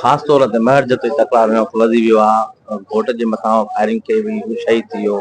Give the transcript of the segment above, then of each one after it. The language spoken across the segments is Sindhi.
خاص طور تي مهڙ جتي تڪرار ۾ خلضي ويو آ ۽ گهوٽ جي مٿان فائرنگ ڪئي وئي هو شهيد ٿي ويو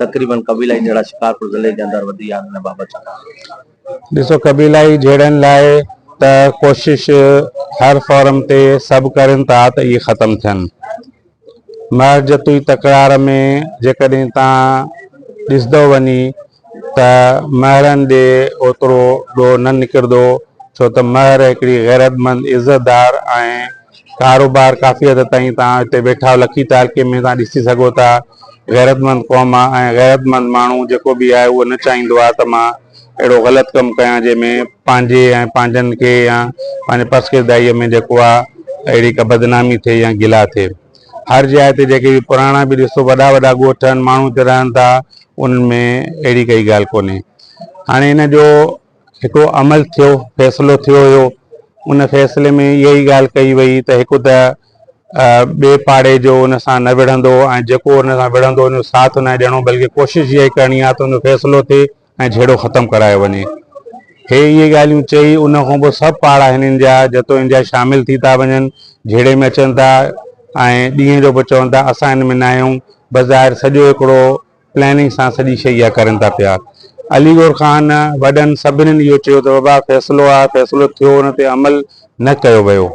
تقريبن قبيلائي جهيڙا شڪارپور ضلعي جي اندر وڌي ويا آهن ان بابت ڇا چوندو؟ ڏسو قبيلائي جهيڙن لاء ته ڪوشش هر فورم تي سڀ ڪرين ٿا ته اهي ختم ٿين. محض جتوئي تڪرار ۾ جيڪڏهن تان ڏسدو وڃي ته مهرن ڏي اوترو ڏوهه نه نڪردو ڇو ته مهر هڪڙي غيرتمند عزتدار ۽ ڪاروبار ڪافي حد تائين تان هتي ويٺاو لکي تعلقي ۾ تان ڏسي سگهو ٿا غيرتمند قوم ۽ غيرتمند ماڻهو جيڪو به آهي اهو نه چاهيندو آهي ته مان اهڙو غلط ڪم ڪيان جنهن ۾ پنهنجي ۽ پنهنجن کي يا پنهنجي پس ڪردائيء ۾ جيڪو آ اهڙي ڪا بدنامي ٿئي يا گلا ٿئي. هر جاء تي جيڪي به پراڻا به ڏسو وڏا وڏا ڳوٺ آهن ماڻهو اتي رهن ٿا انهن ۾ اهڙي ڪائي ڳالهه ڪونهي. هاڻي ان جو هڪڙو عمل ٿيو فيصلو ٿيو هيو ان فيصلي ۾ اها ئي ڳالهه ڪئي وئي ته هڪ ته ٻئي پاڙي جو ان سان نه وڙهندو ۽ جيڪو ان سان وڙهندو ان جو ساٿ ناهي ڏيڻو بلڪه ڪوشش اها ئي ڪرڻي آ ته ان جو فيصلو ٿئي ۽ جهيڙو ختم ڪرايو وڃي. هي اهي ڳالهيون چئي ان کان پوء سڀ پاڙا هنن جا جتو ان جا شامل ٿي ٿا وڃن، جهيڙي ۾ اچن ٿا ۽ ڏينهن جو به چون ٿا اسان ان ۾ ناهيون، بظاهر سڄو هڪڙو پلاننگ سان سڄي شيء اها ڪرن ٿا پيا. علي گور خان وڏن سڀني اهو چيو ته بابا فيصلو آهي، فيصلو ٿيو ان تي عمل نه ڪيو ويو.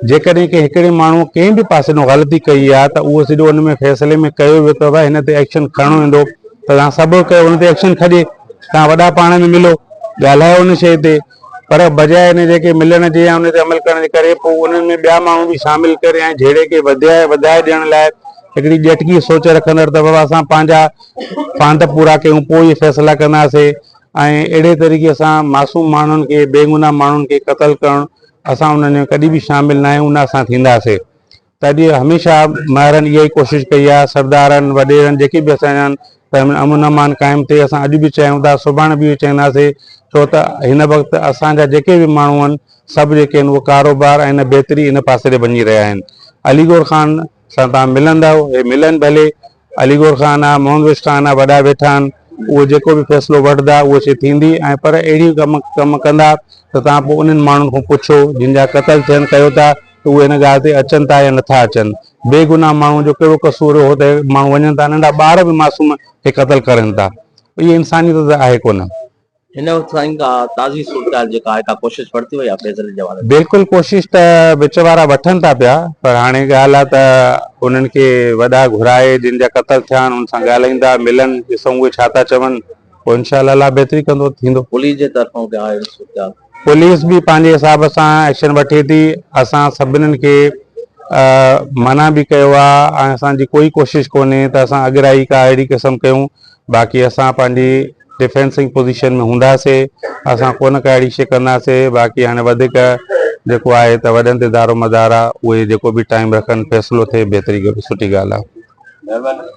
جيڪڏهن ڪنهن هڪڙي ماڻهوء ڪنهن به پاسي ڏانهن غلطي ڪئي آهي ته اهو سڄو ان ۾ فيصلي ۾ ڪيو ويو ته هن تي ايڪشن کڻڻو ويندو ته توهان سڀ ڪيو ان تي ايڪشن کڄي توهان وڏا پاڻ ۾ ملو ڳالهايو ان شيء تي پر بجاء ان جي ڪي ملڻ جي يا ان تي عمل ڪرڻ جي ڪري پوء انهن ۾ ٻيا ماڻهو به شامل ڪري ۽ جهيڙي کي وڌائي وڌائي ڏيڻ لاء هڪڙي ڄٽڪي سوچ رکندڙ ته بابا اسان پنهنجا فاند پورا ڪيون پوء ئي فيصلا ڪنداسين. ۽ اهڙي طريقي سان معصوم ماڻهن کي بيگناهه ماڻهن کي قتل ڪرڻ اسان انهن ۾ ڪڏهن به شامل نه آهيون نه اسان ٿينداسي تڏهن هميشه مهرن اها ئي ڪوشش ڪئي آهي سردارن وڏيرن جيڪي به اسان جا آهن امن امان قائم ٿئي اسان اڄ به چاهيون ٿا سڀاڻي به اهو ئي چاهينداسي ڇو ته هن وقت اسان جا جيڪي به ماڻهو آهن سڀ جيڪي آهن اهي ڪاروبار ۽ هن بهتري هن پاسي ڏي وڃي رهيا آهن علي گور خان سان توهان ملندؤ، هي ملن ڀلي، علي گور خان آ، محمد ويس خان آ، وڏا ويٺا آهن، اهي جيڪو به فيصلو وٺندا، اهو شيء ٿيندي ۽ پر اهڙي ڪم ڪم ڪندا ته توهان پوء انهن ماڻهن کان پڇو، جن جا قتل ٿين ڪيو ٿا ته اهي هن ڳالهه تي اچن ٿا يا نٿا اچن؟ بي گناهه ماڻهوء جو ڪهڙو قصور هو ته ماڻهو وڃن ٿا، ننڍا ٻار به معصوم کي قتل ڪرين ٿا. اهي انسانيت ته آهي ڪونه. هن وقت سائين ڪا تازي صورتحال جيڪا آهي ڪا ڪوشش ورتي وئي آهي فيض علي جي حوالي سان؟ بلڪل ڪوشش ته وچ وارا وٺن ٿا پيا پر هاڻي ڳالهه آهي ته انهن کي وڏا گهرائي جن جا قتل ٿيا آهن ان سان ڳالهائيندا ملن ڏسون اهي ڇا ٿا چون پوء انشاء الله الله بهتري ڪندو ٿيندو. پوليس جي طرفان ڪا اهڙي صورتحال؟ پوليس به پنهنجي حساب سان ايڪشن وٺي ٿي اسان سڀنن کي منع به ڪيو آهي ۽ اسان جي ڪوئي ڪوشش ڪونهي ته اسان اڳرائي ڪا اهڙي قسم ڪيون باقي اسان پنهنجي ڊفينسنگ پوزيشن ۾ هونداسين اسان ڪونه ڪا اهڙي شي ڪنداسين باقي هاڻي وڌيڪ جيڪو آهي ته وڏن تي دارومدار آهي اهي جيڪو به ٽائيم رکن فيصلو ٿئي بهتري سٺي ڳالهه آهي